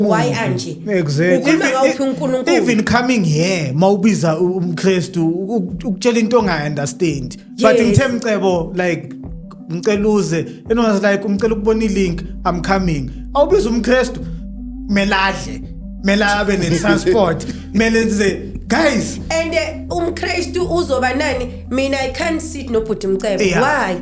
why mm-hmm. anje exactly ukhuluma ngawuphi uNkulunkulu even coming here mawubiza umKristu ukutshela into ongayi understand but ngithe mcebo like ngicela uze enonas like umcela ukubona ilink i'm coming awubiza umKristu meladle mela abe ne transport mele nze guys and eh, umKristu uzoba nani mina i can't sit nobhuti mcebo why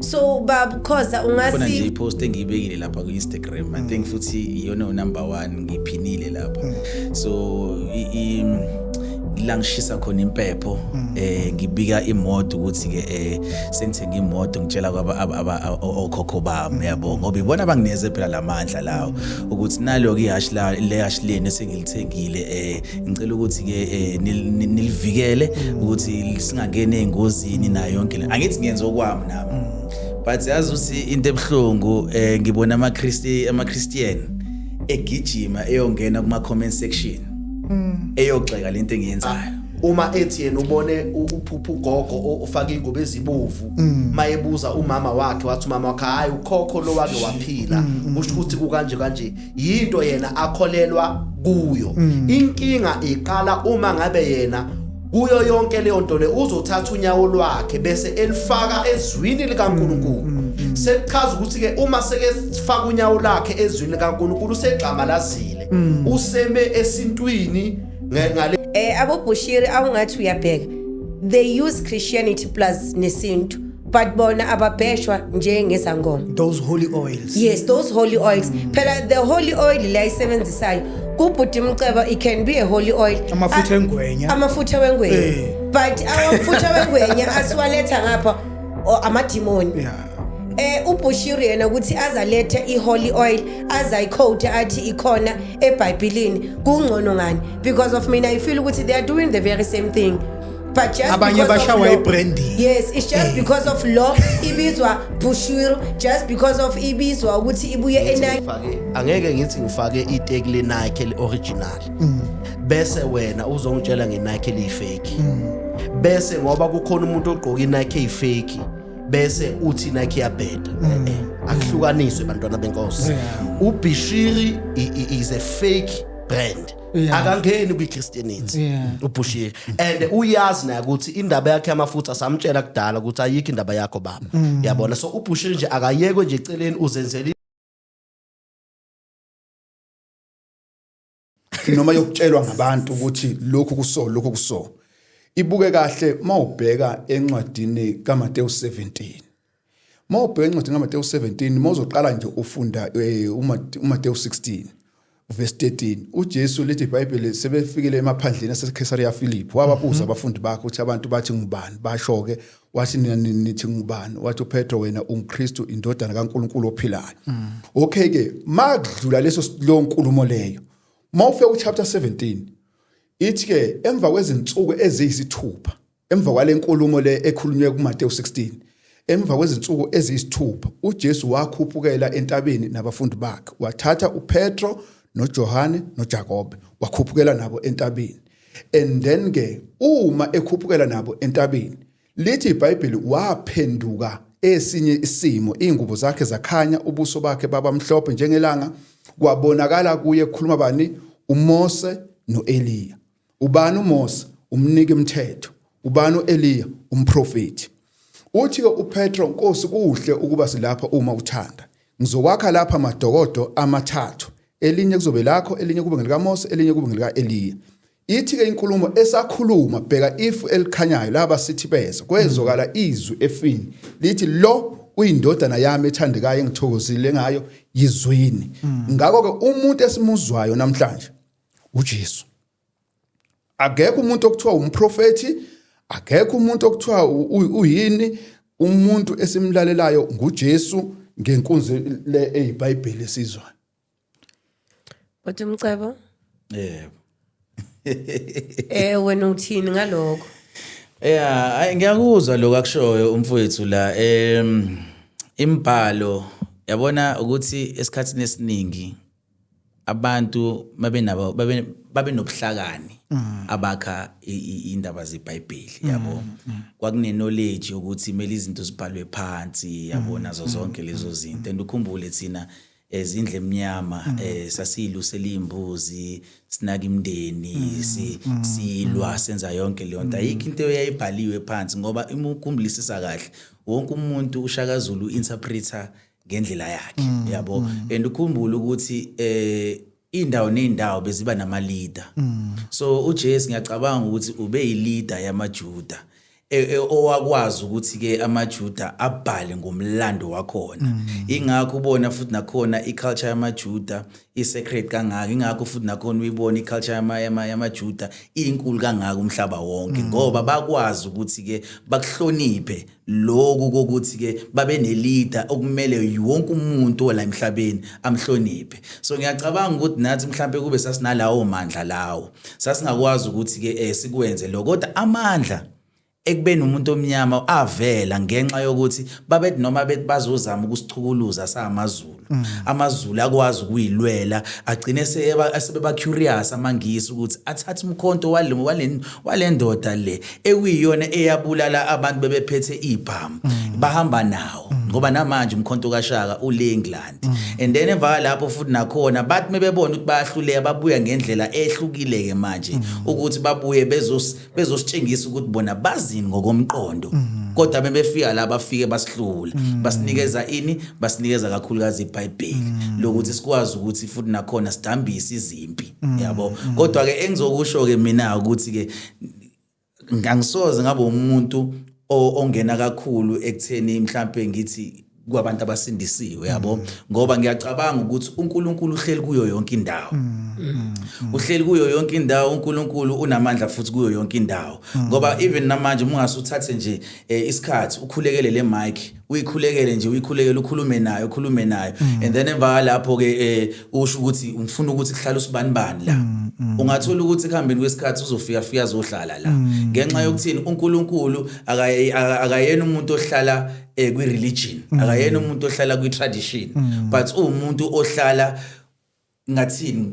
so baba khoza ungasi khona nje ipost engiyibekile lapha ku Instagram mm. i think mm. futhi iyona unumber 1 ngiphinile lapha mm. so i, i la ngishisa khona impepho mm. eh ngibika imoto ukuthi ke eh sengithenga imoto ngitshela kwaba okhokho bami mm. yabo ngoba ibona bangineze phela lamandla lawo mm. ukuthi nalo ke ihash la le hash leni sengilithengile eh ngicela ukuthi ke eh, nilivikele mm. ukuthi singangeni ezingozini nayo yonke le angithi ngenza okwami nami mm. but yazi ukuthi into ebuhlungu eh, ngibona ama Christi ama Christian egijima eyongena kuma comment section mm. eyogxeka lento engiyenzayo ah, uma ethi yena ubone uphupha ugogo ofaka ingubo ezibovu mm. mayebuza umama wakhe wathi umama wakhe hayi ukhokho lo wake waphila mm, mm, usho ukuthi kukanje kanje yinto yena akholelwa kuyo mm. inkinga iqala uma ngabe yena kuyo yonke leyo nto le uzothatha unyawo lwakhe bese elifaka ezwini likaNkuluNkulu mm, mm, mm. sekuchaza ukuthi ke uma sekefaka unyawo lakhe ezwini likaNkuluNkulu usegxamalazile useme esintwini ngale eh abobushiri awungathi uyabheka they use christianity plus nesintu but bona ababheshwa njengezangoma those holy oils yes those holy oils mm. phela the holy oil la isebenzisayo kubhuti mcebo it can be a holy oil amafutha engwenya amafutha wengwenya eh. but amafutha wengwenya asiwaletha ngapha amadimoni yeah eh uBushiri yena ukuthi azalethe iholy oil azayicoat athi ikhona eBhayibhelini kungcono ngani because of mina i feel ukuthi they are doing the very same thing But just Abanye because of bashawa law- i-branding. yes it's just Eh. because of law ibizwa bushwiru just because of ibizwa ukuthi ibuye enaki Ngifake- angeke ngithi ngifake iteki lenike le-original bese wena uzongitshela ngenike eliyifeki bese ngoba kukhona umuntu ogqoke inike eyifeki bese uthi inike iyabheda Eh, eh, akuhlukaniswe bantwana benkosi ubishiri i- i- is a fake brand Yeah. akangeni kwi-christianity Yeah. ubhushile and uyazi naye ukuthi indaba yakhe yamafutha samtshela kudala ukuthi ayikho indaba yakho baba Mm. yabona so ubhushile nje akayekwe nje eceleni uzenzele noma yokutshelwa ngabantu ukuthi lokhu kuso lokhu kuso ibuke kahle mawubheka encwadini kaMateyu 17 Uma ubheka incwadi kaMatewu 17, uma uzoqala nje ufunda eh, uMatewu 16 verse 13 uJesu lithi iBhayibheli sebefikile emaphandleni aseKhesariya Philip wababuza mhm. abafundi bakhe ukuthi abantu bathi ngubani basho ke wathi nina nithi ngubani wathi uPetro wena unguKristu indodana kaNkuluNkulu ophilayo mm. okay ke makudlula leso lo nkulumo leyo mawufe uchapter 17 ithi ke emva kwezinsuku eziyisithupha Emva kwale nkulumo le ekhulunywe kuMatewu 16, emva kwezinsuku eziyisithupha, uJesu wakhuphukela entabeni nabafundi bakhe. Wathatha uPetro noJohane noJakobe, wakhuphukela nabo entabeni. And then ke uma ekhuphukela nabo entabeni, lithi iBhayibheli waphenduka esinye isimo, izingubo zakhe zakhanya, ubuso bakhe baba mhlophe njengelanga, kwabonakala kuye kukhuluma bani? UMose noEliya. ubani uMose umnike mthetho ubani uEliya umprofeti uthi uPetro Nkosi kuhle ukuba silapha uma uthanda ngizokwakha lapha amadokodo amathathu elinye kuzobe lakho elinye kube ngelikaMose elinye kube ngelikaEliya ithi ke inkulumo esakhuluma bheka ifu elikhanyayo laba sithi bezo kwezokala mm. izwi efini lithi lo uyindodana yami ethandekayo engithokozile ngayo yizwini mm. ngakho ke umuntu esimuzwayo namhlanje uJesu akekho umuntu okuthiwa umprofeti akekho umuntu okuthiwa uyini umuntu esimlalelayo nguJesu ngenkunzi le eyiBhayibheli esizwayo But umcebo yebo Eh wena uthini ngaloko Yeah, ay ngiyakuzwa lokho akushoyo umfowethu la em imbhalo yabona ukuthi esikhatsini esiningi abantu babenabo babe babenobuhlakani mm. abakha indaba zeBhayibheli mm, yabo mm. kwakune knowledge ukuthi imeli izinto zibhalwe phansi yabo nazo zonke lezo zinto and ukhumbule thina ezindle emnyama mm. eh sasilu selimbuzi sinaka imndeni mm. si mm. silwa senza yonke leyo nto ayikho into eyayibhaliwe phansi ngoba uma ukhumblisisa kahle wonke umuntu ushakazulu interpreter ngendlela yakhe mm, yabo mm. and ukhumbule ukuthi eh indawo nendawo beziba nama leader mm. so uJesu ngiyacabanga ukuthi ube yi leader yamaJuda e, e, owakwazi ukuthi ke amaJuda abhale ngomlando wakhona mm. ingakho ubona futhi nakhona iculture yamaJuda isecret kangaka ingakho futhi nakhona uyibona iculture yama yamaJuda inkulu kangaka umhlaba wonke ngoba bakwazi ukuthi ke bakuhloniphe Lokhu kokuthi-ke babenelida okumele wonke umuntu ola emhlabeni amhloniphe. So ngiyacabanga ukuthi nathi mhlampe kube sasinalawo mandla lawo. Sasingakwazi ukuthi-ke eh, sikwenze lokho. Kodwa amandla ekubeni umuntu omnyama avela ngenxa yokuthi babethi noma bethi bazozama ukusichukuluza samaZulu. Mm. amazulu akwazi ukuyilwela agcine sebeba curious amangisi ukuthi athathe umkhonto wale wale walendoda le ekuyiyona eyabulala abantu bebephethe ibhamu mm. bahamba nawo mm. ngoba namanje umkhonto kaShaka ule England and then emva lapho futhi nakhona bathi mebebona ukuthi bayahluleka babuya ngendlela ehlukile ke manje ukuthi babuye bezos bezositshengisa ukuthi bona bazini ngokomqondo mhm. kodwa bebefika la bafike basihlula mhm. basinikeza ini basinikeza kakhulukazi iBhayibheli mhm. lokuthi sikwazi ukuthi futhi nakhona sidambise izimpi yabo kodwa ke engizokusho ke mina ukuthi ke ngangisoze ngabe umuntu ongena kakhulu ekutheni mhlambe ngithi kwabantu abasindisiwe yabo ngoba ngiyacabanga ukuthi uNkulunkulu uhleli kuyo yonke indawo uhleli kuyo yonke indawo uNkulunkulu unamandla futhi kuyo yonke indawo ngoba even namanje mungase uthathe nje eh, isikhathi ukhulekele le mic uyikhulekele nje uyikhulekele ukhulume naye ukhulume naye and then emva lapho ke eh, usho ukuthi ngifuna ukuthi kuhlale usibani bani la ungathola ukuthi kuhambeni kwesikhathi uzofika fika azohlala la ngenxa yokuthini uNkulunkulu akaye- aka- akayena umuntu ohlala eh kwi religion mm. akayena umuntu ohlala kwi tradition mm. but umuntu ohlala ngathini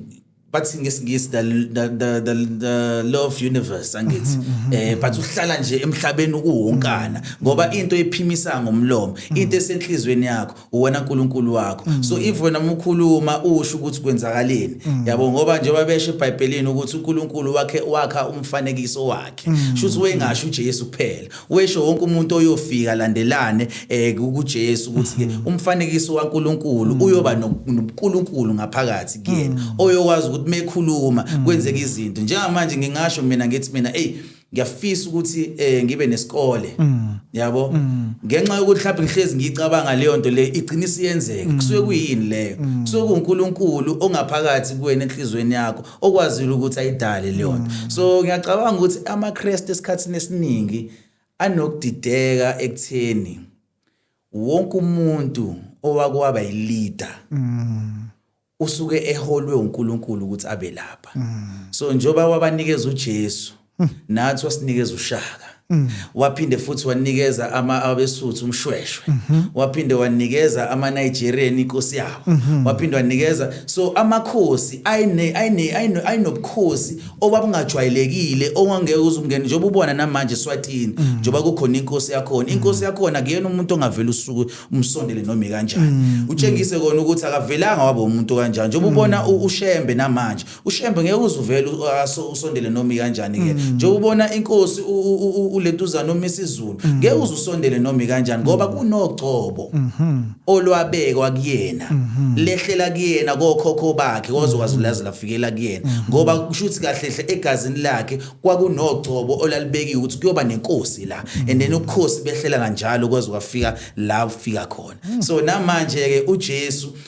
bathi ngesingisi the, the, the, the, the law of universe angithi mm-hmm, mm-hmm. eh but uhlala nje emhlabeni ukuwonkana mm-hmm. ngoba into ephimisa ngomlomo into esenhlizweni yakho uwena uNkulunkulu wakho so if wena umkhuluma usho ukuthi kwenzakaleni yabo ngoba njengoba beshe eBhayibhelini ukuthi uNkulunkulu wakhe wakha umfanekiso wakhe shuthi wengasho uJesu kuphela Wesho wonke umuntu oyofika landelane eh kuJesu ukuthi ke mhm. umfanekiso waNkuluNkulu mhm. uyoba noNkuluNkulu ngaphakathi kuyena mhm. oyokwazi ukuthi mekhuluma kwenzeka izinto njengamanje ngingasho mina ngithi mina hey ngiyafisa ukuthi eh ngibe nesikole yabo ngenxa yokuthi mhlawumbe ngihlezi ngicabanga leyo nto le igcina isiyenzeka kusuke kuyini leyo kusuke kuNkuluNkulu ongaphakathi kuwena enhlizweni yakho okwazile ukuthi ayidale leyona mm. so ngiyacabanga ukuthi amaKristu esikhathini esiningi anokudideka ekutheni wonke umuntu owakwaba yileader mm. usuke eholwe uNkulunkulu ukuthi abe lapha mm. so njoba wabanikeza uJesu mm. nathi wasinikeza ushaka mm. waphinde futhi wanikeza ama abesuthu umshweshwe mm -hmm. waphinde wanikeza ama Nigerian inkosi yabo mm -hmm. waphinde wanikeza so amakhosi ayine ayine ayinobukhosi obabungajwayelekile ongangeke uzungene njengoba ubona namanje swatini mm. njengoba kukhona inkosi yakhona mm. inkosi yakhona kuyena umuntu ongavela usuku umsondele noma kanjani mm. utshengise kona ukuthi akavelanga waba umuntu kanjani njengoba ubona ushembe namanje ushembe ngeke uzuvele usondele noma ikanjani ke mm. nje ubona inkosi ulentuzana noma isizulu mm. ngeke uzusondele noma ikanjani ngoba mm. kunogcobo mm-hmm. olwabekwa kuyena mm-hmm. lehlela kuyena kokhokho bakhe kozokwazi mm-hmm. lazi lafikela kuyena ngoba kusho ukuthi kahle hle egazini lakhe kwakunogcobo olalibekiwe ukuthi kuyoba nenkosi la and then ubukhosi behlela kanjalo kwaze kwafika la ufika khona so namanje ke uJesu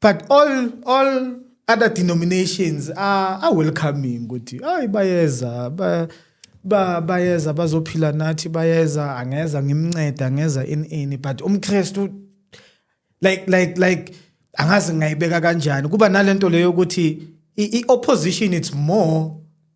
but all all other denominations are, are welcoming ukuthi hayi bayeza ba, ba bayeza bazophila nathi bayeza angeza ngimnceda angeza in ini but umkristu like like like angazi ngayibeka kanjani kuba nalento leyo ukuthi i opposition it's more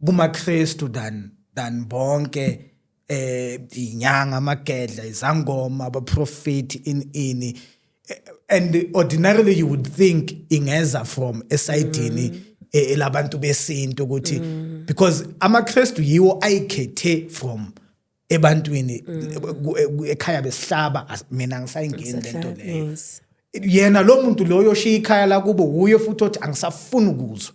kumakristu than than bonke eh inyanga amagedla izangoma abaprofeti in ini eh, and ordinarily you would think ingeza from esayidini mm. Eh, elabantu besintu ukuthi mm. because amaKristu yiwo ayikhethe from ebantwini mm. ekhaya besihlaba mina ngisayingeni lento leyo yena lo muntu loyo oshiya ikhaya lakubo wuye futhi othi angisafuni ukuzwa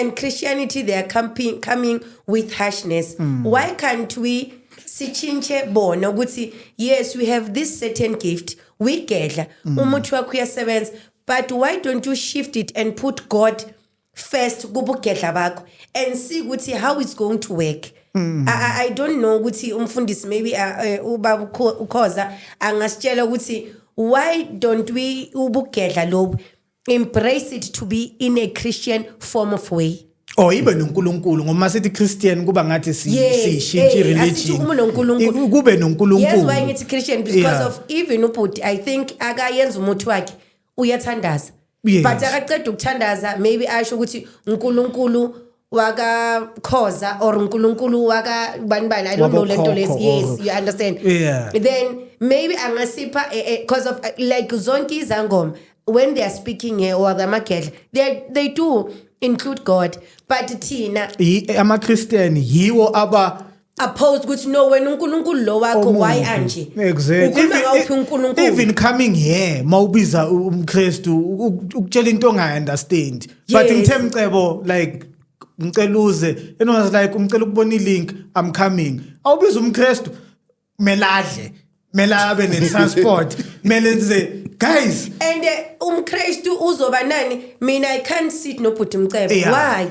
and christianity they are coming, coming with harshness mm. why can't we sitshintshe bona ukuthi yes we have this certain gift we gedla mm. umuthi wakho uyasebenza but why don't you shift it and put god first kubugedla bakho and see ukuthi how it's going to work Mm. I, I don't know ukuthi umfundisi maybe uh, eh, ubaba ukhoza angasitshela ukuthi why don't we ubugedla lobu embrace it to be in a christian form of way or oh, ibe noNkulunkulu ngoba sithi Christian kuba ngathi sishintshe religion uma noNkulunkulu kube noNkulunkulu yes why ngithi Christian because yeah. of even ubhuti i think akayenza umuthi wakhe uyathandaza yes. but akaqeda ukuthandaza maybe asho ukuthi uNkulunkulu waka khoza or uNkulunkulu waka bani bani i don't know lento lezi yes you understand yeah. then maybe angasipha eh, eh, because of eh, like zonke izangoma when they are speaking here or the magedla they they do include god but thina ama christian yiwo aba oppose ukuthi no wena uNkulunkulu lo wakho why anje exactly ukhuluma ngawuphi uNkulunkulu even coming here mawubiza umKristu ukutshela into ongayi understand but ngithe mcebo like ngicela uze and was like umcela ukubona ilink i'm coming awubiza umKristu meladle mela abe ne transport mele nze guys and eh, umKristu uzoba nani mina i can't sit no bhuti mcebo why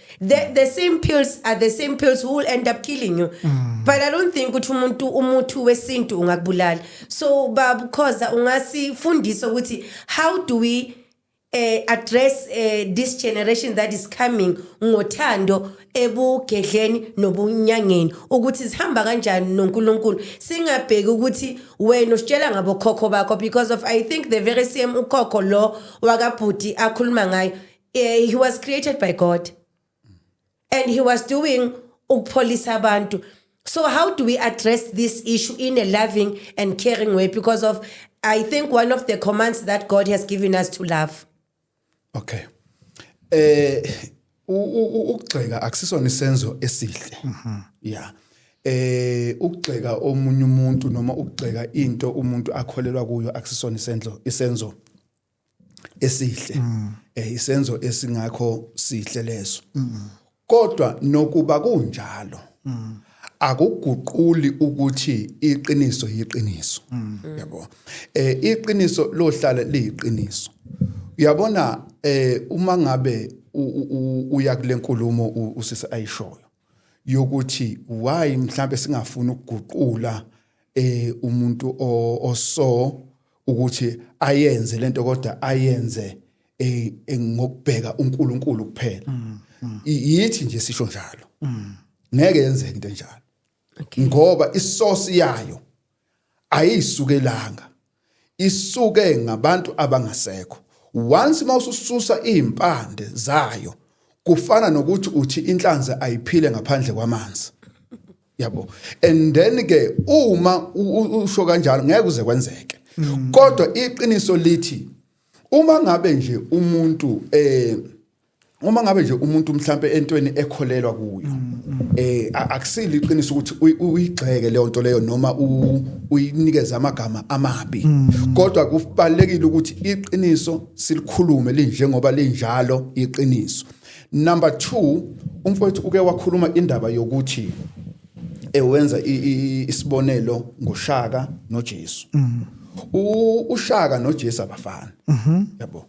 the, the same pills are the same pills who will end up killing you mm. but i don't think ukuthi umuntu umuthi wesintu ungakubulala so babukhoza ungasifundisa ukuthi how do we uh, address uh, this generation that is coming ngothando ebugedleni nobunyangeni ukuthi sihamba kanjani noNkulunkulu singabheki ukuthi wena usitshela ngabokhokho bakho because of i think the very same ukhokho lo wakabhuti akhuluma ngayo Eh, he was created by God and he was doing ukupholisa abantu. So how do we address this issue in a loving and caring way because of I think one of the commands that God has given us to love. Okay. Eh ukugxeka akusisona isenzo esihle. Mhm. Yeah. eh ukugxeka omunye umuntu noma ukugxeka into umuntu akholelwa kuyo akusisona isenzo isenzo esihle mm. eh isenzo esingakho sihle leso mm. kodwa nokuba kunjalo mm. akuguquli ukuthi iqiniso yiqiniso mm. yabo eh iqiniso lohlala liyiqiniso uyabona eh uma ngabe uya kulenkulumo usisi ayishoyo yokuthi why mhlambe singafuni ukuguqula eh umuntu oso ukuthi ayenze lento kodwa ayenze eh, eh, ngokubheka uNkulunkulu kuphela mm, mm. yithi nje sisho njalo mm. ngeke yenzeke into enjalo ngoba isource yayo ayisukelanga isuke ngabantu abangasekho once mawusususa izimpande zayo kufana nokuthi uthi inhlanzi ayiphile ngaphandle kwamanzi yabo and then ke uma usho kanjalo ngeke uze kwenzeke mm. kodwa iqiniso lithi uma ngabe nje umuntu eh uma ngabe nje umuntu mhlambe entweni ekholelwa kuyo mm, mm. eh akusile iqiniso ukuthi uyigxeke leyo nto leyo noma uyinikeza amagama amabi mm. kodwa kubalekile ukuthi iqiniso silikhulume linjengoba linjalo iqiniso number 2 umfowethu uke wakhuluma indaba yokuthi ewenza isibonelo ngoshaka noJesu mm. ushaka noJesu abafani mm-hmm. yabo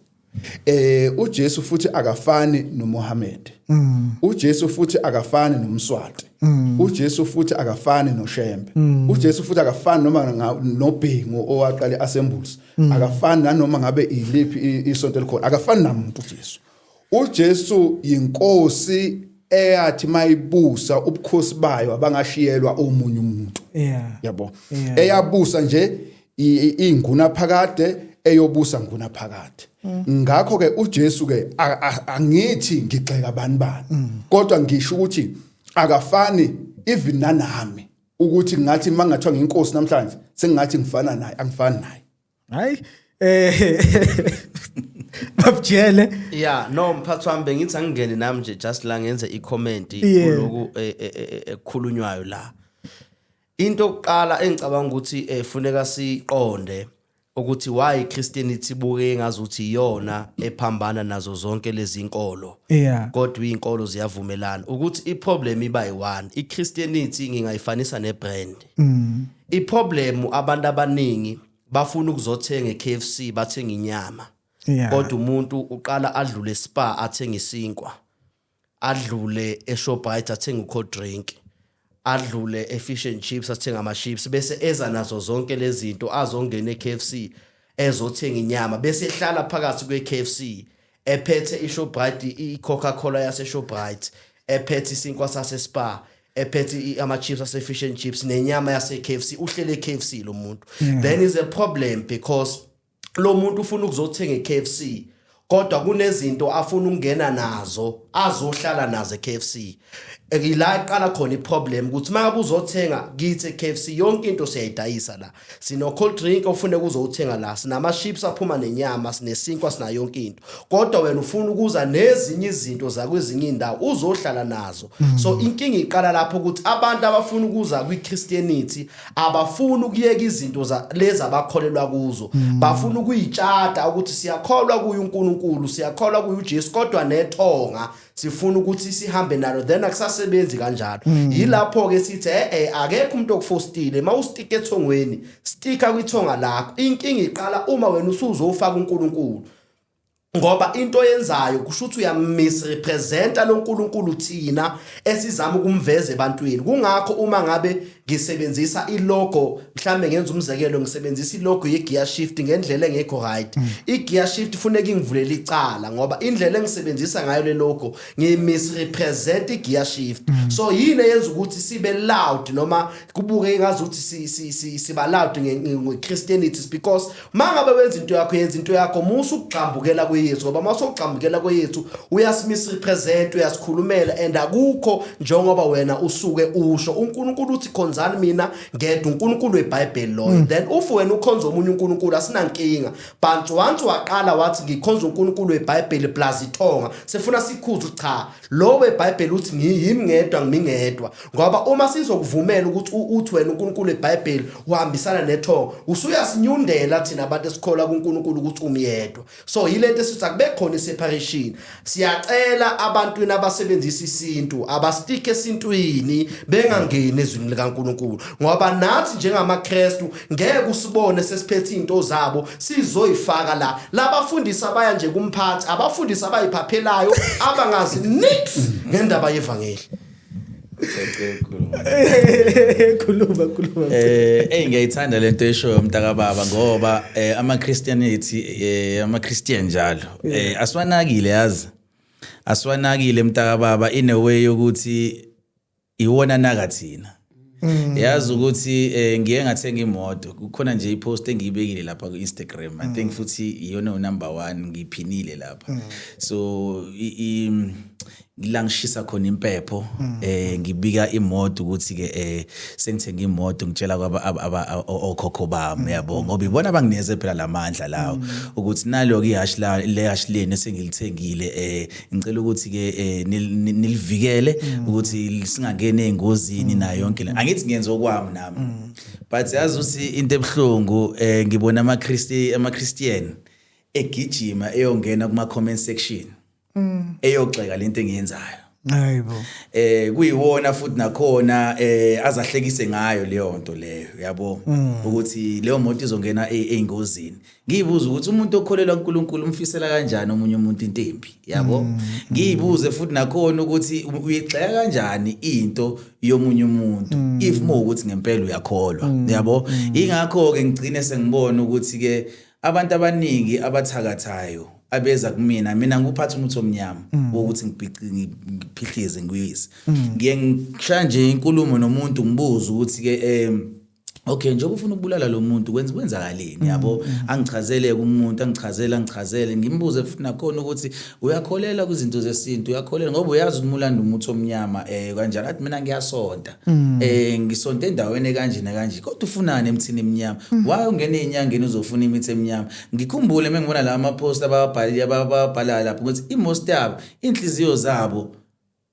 eh uJesu futhi akafani noMohammed mm. uJesu futhi akafani noMswati mm. uJesu futhi akafani noShembe mm. uJesu futhi akafani noma nobhengu owaqale asembuzi mm. akafani nanoma ngabe iliphi isonto elikhona akafani namuntu uJesu UJesu yinkosi eyathi mayibusa ubukhosi bayo abangashiyelwa omunye umuntu. Yeah. Yabo. Yeah. Eyabusa nje inguna phakade eyobusa nguna phakade. Mm. Ngakho ke uJesu ke angithi ngigxeka bani bani. Mm. Kodwa ngisho ukuthi akafani even nanami ukuthi ngathi mangathiwa nginkosi namhlanje sengathi ngifana naye angifani naye. hayi eh babjele yeah no mphathi wami bengithi angingene nami nje just la ngenze i comment kuloku eh, eh, eh, ekukhulunywayo la into okuqala engicabanga ukuthi efuneka siqonde ukuthi why Christianity buke ngazuthi iyona ephambana nazo zonke lezi inkolo yeah kodwa izinkolo ziyavumelana ukuthi iproblem iba yi1 iChristianity ngingayifanisa nebrand mm. I problem abantu abaningi bafuna ukuzothenga eKFC bathenga inyama. Yeah. Kodwa umuntu uqala adlule spa athenga isinkwa. Adlule eShoprite athenga ucold drink. Adlule eFish and Chips athenga ama chips bese eza nazo zonke lezi zinto azongena eKFC ezothenga inyama bese ehlala phakathi kweKFC ephethe iShoprite iCoca-Cola yaseShoprite ephethe isinkwa saseSpar ephethe ama-chips ase-fish and chips nenyama yase-k f c uhlele e-k f c lo muntu mm. then is a problem because lo muntu ufuna ukuzothenga e-k f c kodwa kunezinto afuna ukungena nazo azohlala nazo e-k f c ngila iqala khona iproblem ukuthi uma uzothenga kithi KFC yonke into siyayidayisa la sino cold drink ofune kuzowuthenga la sinama chips aphuma nenyama sinesinkwa sina yonke into kodwa wena ufuna ukuza nezinye izinto zakwezinye indawo uzohlala nazo mm. so inkinga iqala lapho ukuthi abantu abafuna ukuza kwi Christianity abafuni ukuyeka izinto za lezi abakholelwa kuzo mm. bafuna ukuyitshata ukuthi siyakholwa kuye uNkulunkulu siyakholwa kuye uJesu kodwa nethonga sifuna ukuthi sihambe nalo then akusasebenzi kanjalo mm. yilapho ke sithi eh eh akekho umuntu okufostile uma ustika ethongweni stika kwithonga lakho inkinga iqala uma wena usuzofaka uNkulunkulu ngoba into yenzayo kusho ukuthi uyamisrepresenta loNkulunkulu thina esizama ukumveza ebantwini kungakho uma ngabe ngisebenzisa ilogo mhlambe ngenza umzekelo ngisebenzisa ilogo yegear shift ngendlela engekho right mm. igear shift funeka ingivulele icala ngoba indlela engisebenzisa ngayo le logo ngimisrepresent igear shift mm. so yini eyenza ukuthi sibe loud noma kubuke ngazi ukuthi siba loud ngeChristianity because mangabe wenza into yakho yenza into yakho musa ukugxambukela kweyesu ngoba uma usogxambukela kweyesu uyasimisa represent uyasikhulumela and akukho njengoba wena usuke usho uNkulunkulu uthi khonzani mina ngedwa uNkulunkulu weBhayibheli loyo mm. then if wena ukhonza omunye uNkulunkulu asinankinga but once waqala wathi ngikhonza uNkulunkulu weBhayibheli plus ithonga sefuna sikhuzu cha Lo weBhayibheli uthi ngiyimi ngedwa ngimi ngedwa ngoba uma sizokuvumela ukuthi uthi wena uNkulunkulu eBhayibheli uhambisana nethongo usuyasinyundela thina abantu esikholwa kuNkulunkulu ukuthi umyedwa so yilento esithi akube khona iseparation siyacela abantwini abasebenzisa isintu abastike esintwini bengangeni ezwini likaNkulunkulu ngoba nathi njengamaKristu ngeke usibone sesiphethe into zabo sizoyifaka la labafundisi abaya nje kumphathi abafundisi abayiphaphelayo abangazi nix ngendaba yevangeli khuluma khuluma eh hey ngiyayithanda lento eshoyo umntaka baba ngoba eh, ama Christian ethi eh, ama Christian njalo eh, aswanakile yazi aswanakile mntaka baba in a way yokuthi iwona naka thina Mm. yazi ukuthi eh, ngiye ngathenga imoto kukhona nje ipost engiyibekile lapha ku-instagram mm. i think mm. futhi iyona unumber one ngiyiphinile lapha mm. so la ngishisa khona impepho mm. eh ngibika imoto ukuthi ke eh sengithenga imoto ngitshela kwaba okhokho bami mm. yabo ngoba ibona bangineze phela lamandla lawo ukuthi naloku ihash la le hash leni sengilithengile eh ngicela ukuthi ke eh, nilivikele mm. ukuthi singangene engozini nayo yonke le angithi ngiyenza okwami nami mm. but yazi ukuthi into ebuhlungu eh, ngibona ama Christi ama Christian egijima eyongena kuma comment section mm. eyogxeka lento engiyenzayo Hayibo. Eh kuyiwona futhi nakhona eh azahlekise ngayo leyo nto leyo yabo ukuthi leyo moto izongena e-, eingozini. ngiyibuza ukuthi umuntu okholelwa uNkulunkulu umfisela kanjani omunye umuntu into embi yabo mm. ngiyibuze futhi nakhona ukuthi uyigxeka kanjani into yomunye umuntu mm. if mo ukuthi ngempela uyakholwa mm. yabo ingakho ke ngigcine sengibona ukuthi ke abantu abaningi abathakathayo abeza kumina mina nguphatha umuthi omnyama wokuthi ngiphihlize ngiyise ngiye ngishaya nje inkulumo nomuntu ngibuza ukuthi ke em okay njengoba ufuna ukubulala lo muntu kwenza kwenzakaleni mm, yabo mm, mm. angichazele umuntu angichazele angichazele ngimbuze futhi nakhona ukuthi uyakholela kwizinto zesintu uyakholela ngoba uyazi ukuthi mulanda umuthi omnyama eh kanjalo athi mina ngiyasonta eh ngisonta endaweni kanje nakanje kodwa ufunani emthini emnyama why ungena enyangeni uzofuna imithi emnyama ngikhumbule mengibona la ama post ababhalile ababhala lapho ukuthi i most yabo inhliziyo zabo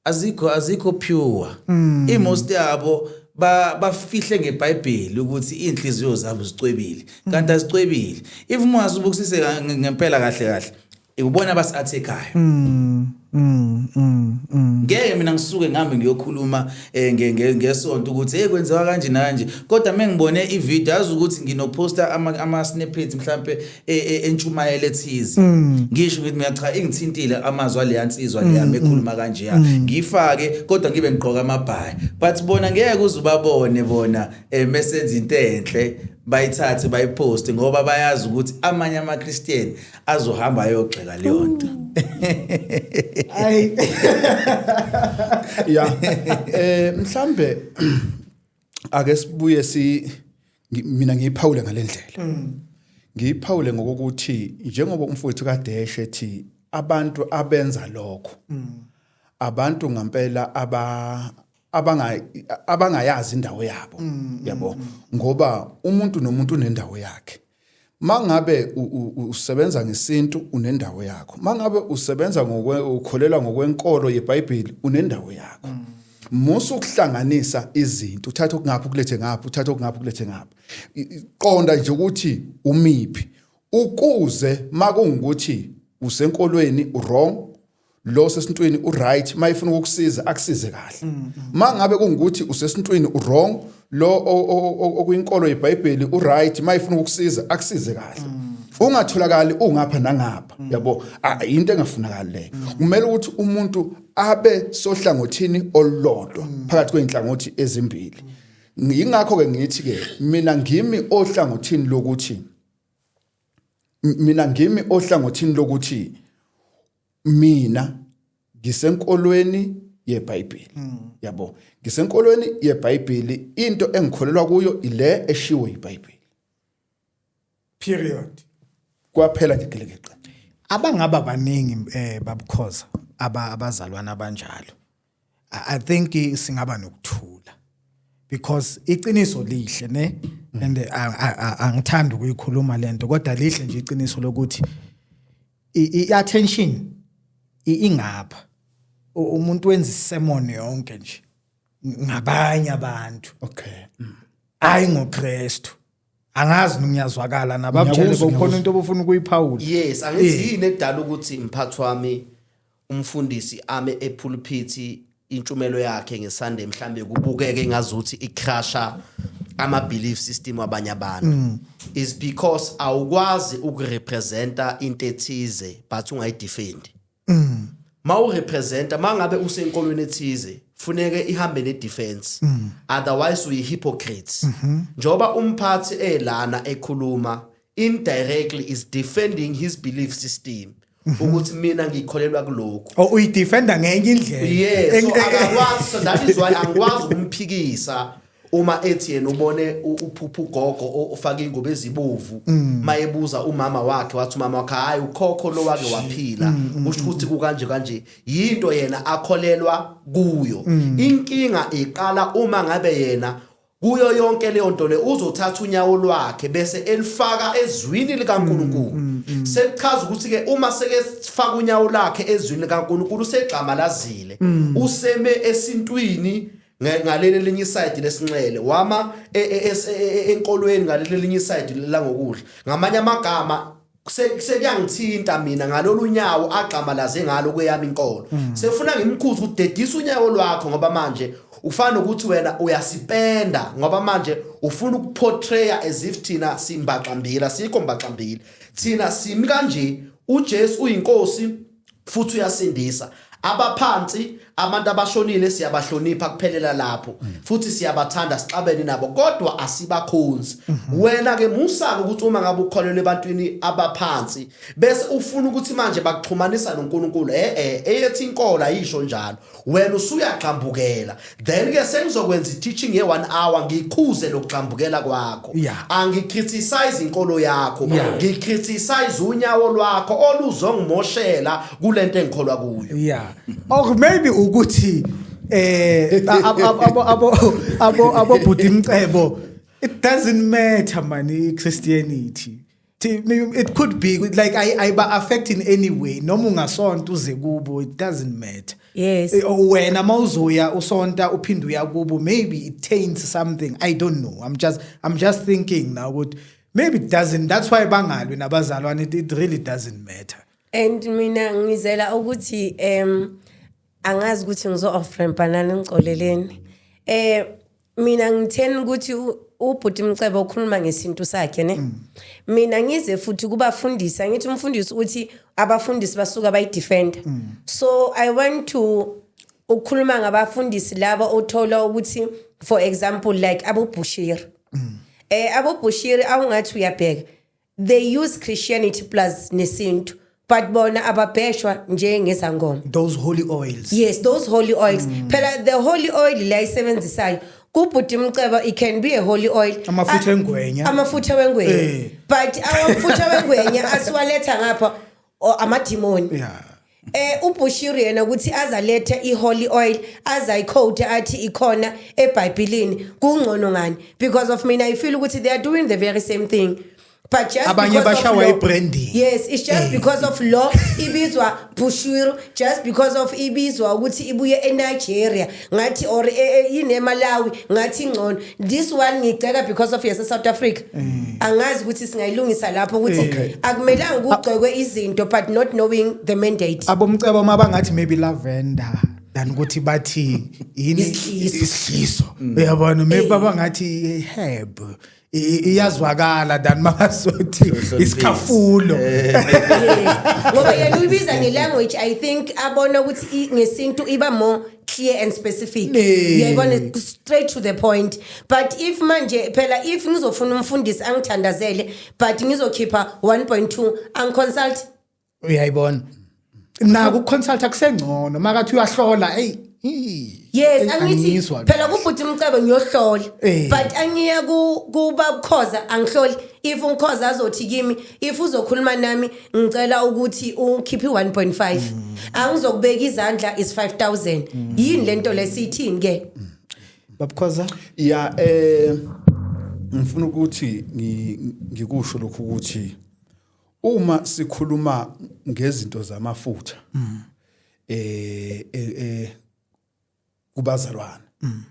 azikho azikho pure mm. imost yabo ba bafihle ngeBhayibheli ukuthi inhliziyo zabo zicwebile mm. kanti azicwebile if mwazi ubukisise ngempela kahle kahle ikubona abasiathekayo mm. Mm, mm, mm. ngeke mina ngisuke ngihambe ngiyokhuluma eh, ngesonto ukuthi hey kwenziwa kanje nanje kodwa mengibone ivideo yazi ukuthi nginoposta ama snippets mhlambe e, e, entshumayelo ethize mm. ngisho ngithi mina cha ingithintile amazwi aleya nsizwa leya mm, mekhuluma mm. kanje ya ngifake kodwa ngibe ngigqoka amabhayi but bona ngeke uze ubabone bona eh, mesenza into enhle bayithathe bayiposte ngoba bayazi ukuthi amanye amaChristian azohamba ayogxeka leyo nto ay ya eh mhlambe ake sibuye si mina ngiyiphawule ngalendlela mm. ngiyiphawule ngokuthi njengoba umfowethu kadeshe ethi abantu abenza lokho mm. abantu ngampela aba abanga abangayazi indawo yabo mm, yabo ngoba umuntu nomuntu unendawo yakhe mangabe usebenza ngesintu unendawo yakho mangabe usebenza ngokwe ukholelwa ngokwenkolo yeBhayibheli unendawo yakho mm. musa ukuhlanganisa izinto uthatha okungapha ukulethe ngapha uthatha okungapha ukulethe ngapha qonda nje ukuthi umiphi ukuze makungukuthi usenkolweni wrong lo sesintwini uright uma efuna ukukusiza akusize kahle mm, mm. uma ngabe kungukuthi usesintwini uwrong lo okuyinkolo yebhayibheli uright uma efuna ukukusiza akusize kahle mm. ungatholakali ungapha nangapha yabo into engafunakali leyo kumele ukuthi umuntu abe sohlangothini olulodwa phakathi kwey'nhlangothi ezimbili yingakho-ke ngithi-ke mina ngimi ohlangothini lokuthi mina ngimi ohlangothini lokuthi mina ngisenkolweni yeBhayibheli hmm. yabo ngisenkolweni yeBhayibheli into engikholelwa kuyo ile eshiwo iBhayibheli period kwaphela nje gelekeqe abangaba baningi eh babukhoza aba abazalwana abanjalo i think singaba nokuthula because iqiniso lihle ne and angithanda ukuyikhuluma lento kodwa lihle nje iqiniso lokuthi i-attention ingapha umuntu wenza isemon yonke nje ngabanye abantu okay hayi ngoKristu angazi ningiyazwakala nabamtshele kokhona into obufuna ukuyiphawula yes angithi yini edala ukuthi mphathi wami umfundisi ame ephulphithi intshumelo yakhe ngeSunday mhlambe kubukeke ngazuthi icrasha ama belief system abanye abantu mm. is because awukwazi ukurepresenta into ethize but ungayidefend mm. mawurepresenta mangabe usenkolweni ethize funeke ihambe ne defense mm. otherwise uyi hypocrite mm-hmm. njoba umphathi elana ekhuluma indirectly is defending his belief system ukuthi mina ngikholelwa kuloko oh uyidefenda ngenye indlela yes so akakwazi so that is why angikwazi ukumphikisa uma ethi yena ubone uphupha ugogo ofaka ingobe ezibovu mm. mayebuza umama wakhe wathi umama wakhe hayi ukhokho lo wake waphila mm, mm, usho ukuthi kukanje kanje yinto yena akholelwa kuyo inkinga iqala uma ngabe yena Kuyo yonke leyo nto le uzothatha unyawo lwakhe bese elifaka ezwini likaNkulunkulu. Mm, mm, mm. Sekuchaza ukuthi ke uma seke sifaka unyawo lakhe ezwini likaNkulunkulu usegxamalazile. Useme esintwini ngaleli linye side lesinxele wama e, e, e, enkolweni ngaleli linye side langokudla. Ngamanye amagama sekuyangithinta mina ngalolu nyawo agxamalaze ngalo kweyami inkolo mm. sefuna ngimkhuze ukuthi dedisa unyawo lwakho ngoba manje ufana nokuthi wena uyasipenda ngoba manje ufuna ukuportraya as if thina simbaxambili asikho mbaxambili thina simi kanje ujesu uyinkosi futhi uyasindisa abaphansi abantu abashonile siyabahlonipha kuphelela lapho mm. futhi siyabathanda sixabene nabo kodwa asibakhonzi mm-hmm. wena ke musaka ukuthi uma ngabe ukholelwe ebantwini abaphansi bese ufuna ukuthi manje bakuxhumanisa noNkulunkulu eh eh eyethi inkolo ayisho njalo wena usuyagxambukela then ke sengizokwenza i-teaching ye-one hour ngikhuze lokugxambukela kwakho yeah. angicriticize inkolo yakho yeah. ngicriticize unyawo lwakho oluzongimoshela kule nto engikholwa kuyo yeah. or maybe ukuthi eh abobhuti imcebo it doesn't matter mani i-christianity it could be like ayiba affect in any way noma ungasonta uze kubo it doesn't matter yes eh, oh, wena mawuzoya usonta uphinde uya kubo maybe it taints something i don't know i'm just i'm just thinking now ukuthi maybe it doesn't that's why bangalwe nabazalwane it, it really doesn't matter and mina ngizela ukuthi um angazi ukuthi ngizo offrampanani ngicoleleni eh mina ngitheni ukuthi ubhuti mcebo ukhuluma ngesintu sakhe ne mm. mina ngize futhi kubafundisi angithi umfundisi uthi abafundisi basuka bayidefenda mm. so i want to ukukhuluma ngabafundisi laba othola ukuthi for example like abobushiri mm. eh abobushiri awungathi uyabheka they use christianity plus nesintu but bona ababheshwa njengezangoma those holy oils yes those holy oils mm. phela the holy oil la isebenzisayo kubhuti mceba it can be a holy oil amafutha engwenya amafutha wengwenya eh. but amafutha wengwenya asiwaletha ngapha or amadimoni yeah eh uBushiri yena ukuthi azalethe iholy oil azayicoat athi ikhona eBhayibhelini kungcono ngani because of mina i feel ukuthi they are doing the very same thing but just abanye bashawa ibranding yes it's just eh. because of law ibizwa Bushiri just because of ibizwa ukuthi ibuye eNigeria ngathi or eh, eh, yini emalawi ngathi ingcono this one ngigceka because of yase south africa mm. angazi ukuthi singayilungisa lapho ukuthi eh. akumelanga kugcekwe izinto but not knowing the mandate abomcebo uma bangathi maybe lavender than ukuthi bathi yini isihliso mm. uyabona maybe babangathi herb iyazwakala than makazothi isikhafulo eh. ngoba yena uyibiza ngelanguage i think abona ukuthi ngesintu iba more clear and specific uyayibona straight to the point but if manje phela if ngizofuna umfundisi angithandazele but ngizokhipha 1.2 angiconsult uyayibona naku consulta kusengcono makathi uyahlola hey yes angithi phela kubhuti umcebo ngiyohlola eh. but angiya kuba ukhoza angihloli if umkhoza azothi kimi if uzokhuluma nami ngicela ukuthi ukhiphe 1.5 mm. angizokubeka izandla is 5000 mm. yini lento lesithini ke mm. babukhoza ya eh ngifuna ukuthi ngikusho lokhu ukuthi Uma sikhuluma ngezinto zamafutha mm. eh eh, eh kubazalwane mm.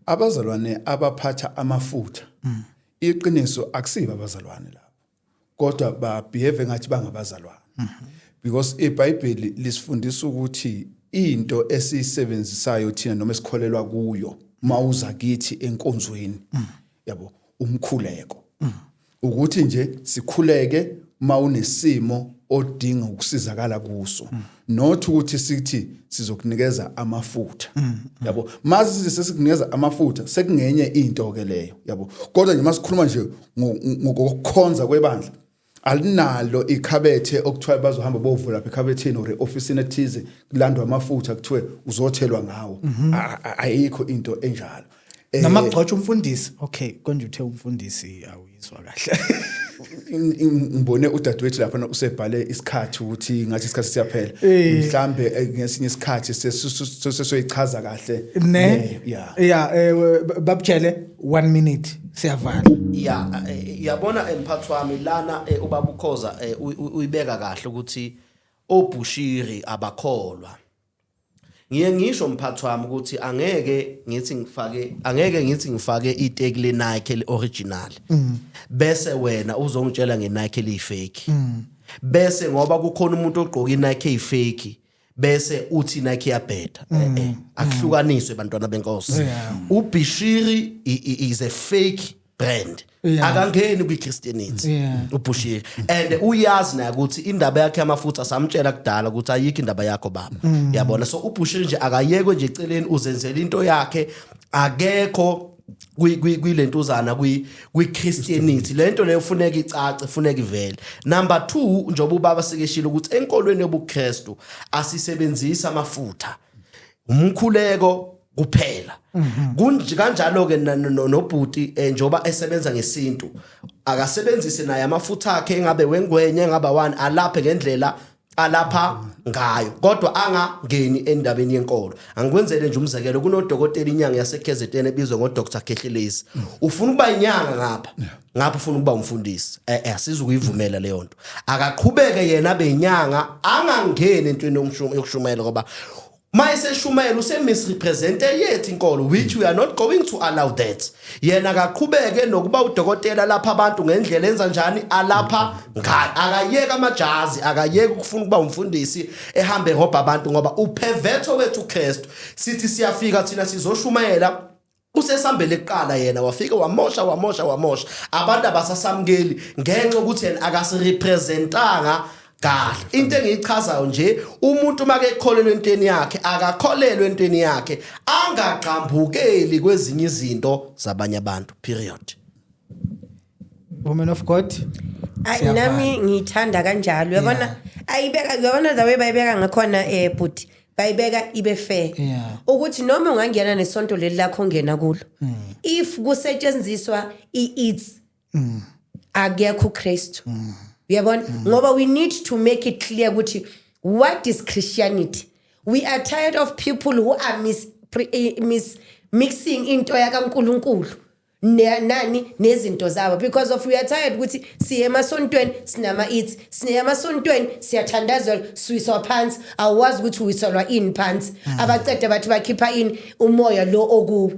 abazalwane abaphatha amafutha mm. iqiniso akusiba abazalwane lapho kodwa ba behave ngathi bangabazalwane mm-hmm. because iBhayibheli lisifundisa ukuthi into esiyisebenzisayo thina noma esikholelwa kuyo mawuza kithi enkonzweni mm. yabo umkhuleko mm. ukuthi nje sikhuleke uma unesimo odinga ukusizakala kuso not ukuthi sithi sizokunikeza amafutha yabo mase sesikunikeza amafutha sekungenye into ke leyo yabo kodwa nje masikhuluma nje ngokukhonza kwebandla alinalo ikhabethe okuthiwa bazohamba bovula lapha ekhabetheni or office ethize kulandwa amafutha kuthiwe uzothelwa ngawo ayikho into enjalo Eh, noma kugcotshwa umfundisi okay konje uthe umfundisi awuyizwa kahle ngibone udadewethu lapha usebhale isikhathi ukuthi ngathi isikhathi siyaphela eh. mhlambe eh, ngesinye isikhathi sesoyichaza kahle ne ya ya babutshele 1 minute siyavala ya yabona emphathi wami lana ubabukhoza uyibeka kahle ukuthi obushiri abakholwa ngiye ngisho mphathi wami ukuthi angeke ngithi ngifake angeke ngithi ngifake iteki le Nike le original mm. bese wena uzongitshela nge Nike le fake mm. bese ngoba kukhona umuntu ogqoka iNike fake bese uthi Nike yabheda mm. eh, eh, akuhlukaniswe bantwana benkosi ubishiri is a fake brand Yeah. akangeni kwichristianity Yeah. ubhushile and uyazi naye ukuthi indaba yakhe yamafutha samtshela kudala ukuthi ayikho indaba yakho baba Mm. yabona so ubhushile nje akayekwe nje eceleni uzenzele into yakhe akekho kwi- kwi- kwilentuzana kwi- kwichristianity le nto leyo funeka icace funeka ivele number two njengoba ubaba sekeshile ukuthi enkolweni yobukristu asisebenzisi amafutha umkhuleko kuphela mhm. kunje kanjalo ke nobhuti eh, njoba esebenza ngesintu akasebenzise naye amafutha akhe engabe wengwenye engaba wani alaphe ngendlela alapha ngayo kodwa angangeni endabeni yenkolo angikwenzele nje umzekelo kunodokotela inyanga yaseKZN ebizwa ngoDr Khehlelezi ufuna ukuba inyanga ngapha ngapha ufuna ukuba umfundisi eh eh sizukuyivumela leyo nto akaqhubeke yena benyanga angangeni entweni yokushumayela ngoba mayeseshumayela usemisrepresente yethu inkolo which we are not going to allow that yena akaqhubeke nokuba udokotela lapha abantu ngendlela enza njani alapha ngayo akayeke amajazi akayeke ukufuna ukuba umfundisi ehambe ehobha abantu ngoba uphevetho wethu uKristu sithi siyafika thina sizoshumayela usesambele kuqala yena wafika wamosha wamosha wamosha abantu abasasamukeli ngenxa ukuthi yena akasirepresentanga kahle into engiyichazayo nje umuntu make ekholelwe entweni yakhe akakholelwe entweni yakhe angagqambukeli kwezinye izinto zabanye abantu period woman of god Ay Siyavana. nami ngiyithanda kanjalo uyabona ayibeka uyabona the way bayibeka ngakhona eh bhuti bayibeka ibe fair Yeah. Hmm. ukuthi noma ungangena nesonto leli lakho ongena kulo if kusetshenziswa i-its Hmm. akekho uKristu uyabona ngoba we need to make it clear ukuthi what is christianity we are tired of people who are mis, pre, eh, mis mixing into yakaNkuluNkulu ne- nani nezinto zabo because of we are tired ukuthi siye emasontweni sinama eats siye emasontweni siyathandazelwa siwiswa phansi awazi ukuthi uwiselwa ini phansi abacede bathi bakhipha ini umoya lo okuwe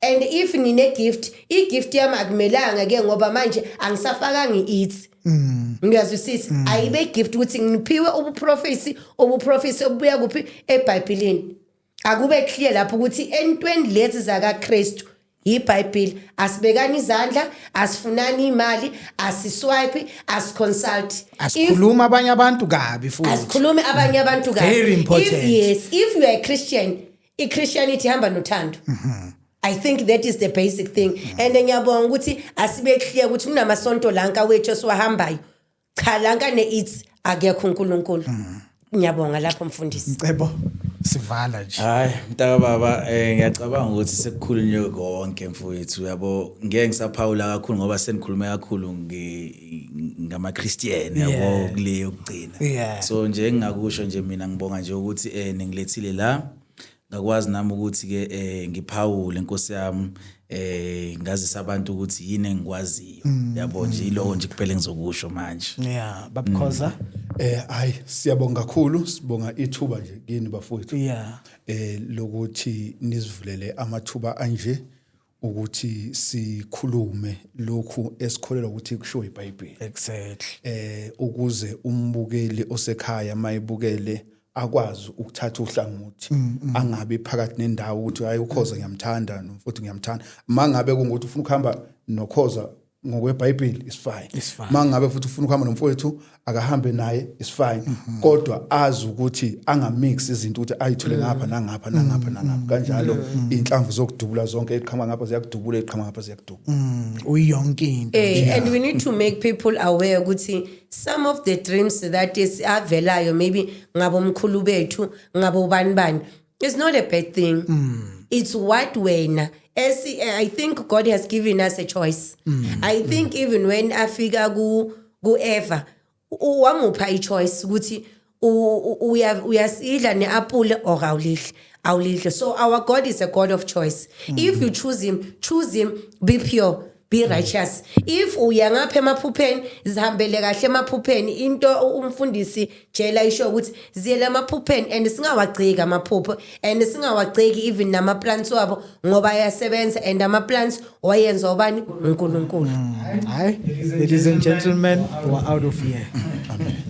and if ngine gift i gift yami akumelanga ke ngoba manje angisafakanga i-eats ngiyazwisisa ayibe gift ukuthi ngiphiwe ubuprofesi obuprofesi obubuya kuphi ebhayibhilini akube clear lapho ukuthi entweni lezi zakaKristu yiBhayibheli asibekani izandla asifunani imali asiswipe asiconsult asikhuluma abanye abantu kabi futhi asikhulume abanye abantu kabi very important if, yes if you are a Christian iChristianity ihamba nothando mm -hmm. I think that is the basic thing mm -hmm. and ngiyabonga ukuthi asibe clear ukuthi kunamasonto lanka wethu siwahambayo cha la nkane ithi akekho uNkulunkulu mm. ngiyabonga lapho mfundisi ngicebo sivala nje hayi mntaka baba eh ngiyacabanga ukuthi sekukhulunywe konke mfowethu uyabo ngeke ngisaphawula kakhulu ngoba senikhulume kakhulu ngama Christian yabo kuleyo kugcina so nje engingakusho nje mina ngibonga nje ukuthi eh ningilethile la ngakwazi nami ukuthi-ke um ngiphawule nkosi yami eh ngazisa abantu ukuthi yini engikwaziyo mm. yabo nje ilowo nje kuphele ngizokusho manje yeah babukhoza mm. eh hayi siyabonga kakhulu sibonga ithuba nje kini bafowethu yeah eh lokuthi nizivulele amathuba anje ukuthi sikhulume lokhu esikholelwa ukuthi kushiwo iBhayibheli exactly eh ukuze umbukeli osekhaya mayibukele akwazi ukuthatha uhlangothi mm, mm. angabe phakathi nendawo ukuthi hayi ukhoza ngiyamthanda futhi ngiyamthanda mangabe kungukuthi ufuna ukuhamba nokhoza ngokwebhayibheli is fine uma ngabe futhi ufuna ukuhamba nomfowethu akahambe naye is fine mhm. kodwa azi ukuthi angamix izinto ukuthi ayithule mm. ngapha nangapha nangapha mm. nangapha kanjalo mm. inhlamvu zokudubula zonke iqhama ngapha ziyakudubula iqhama ngapha ziyakudubula uyonke into eh, and we need to make people aware ukuthi some of the dreams that is avelayo maybe ngabo mkhulu bethu ngabo bani bani It's not a bad thing. Mm. It's what when as I think God has given us a choice. Mm. I think mm. even when afika ku ku Eva wamupha i choice ukuthi uya uyasidla neapple or awulidli. Awulidli. So our God is a God of choice. Mm. If you choose him, choose him, be pure. be righteous if uya ngapha emaphupheni zihambele kahle emaphupheni into umfundisi jela isho ukuthi ziyele emaphupheni and singawagceki amaphupho and singawagceki even nama plants wabo ngoba ayasebenza and ama plants wayenza ubani uNkulunkulu mm. hayi ladies and gentlemen we are out of here amen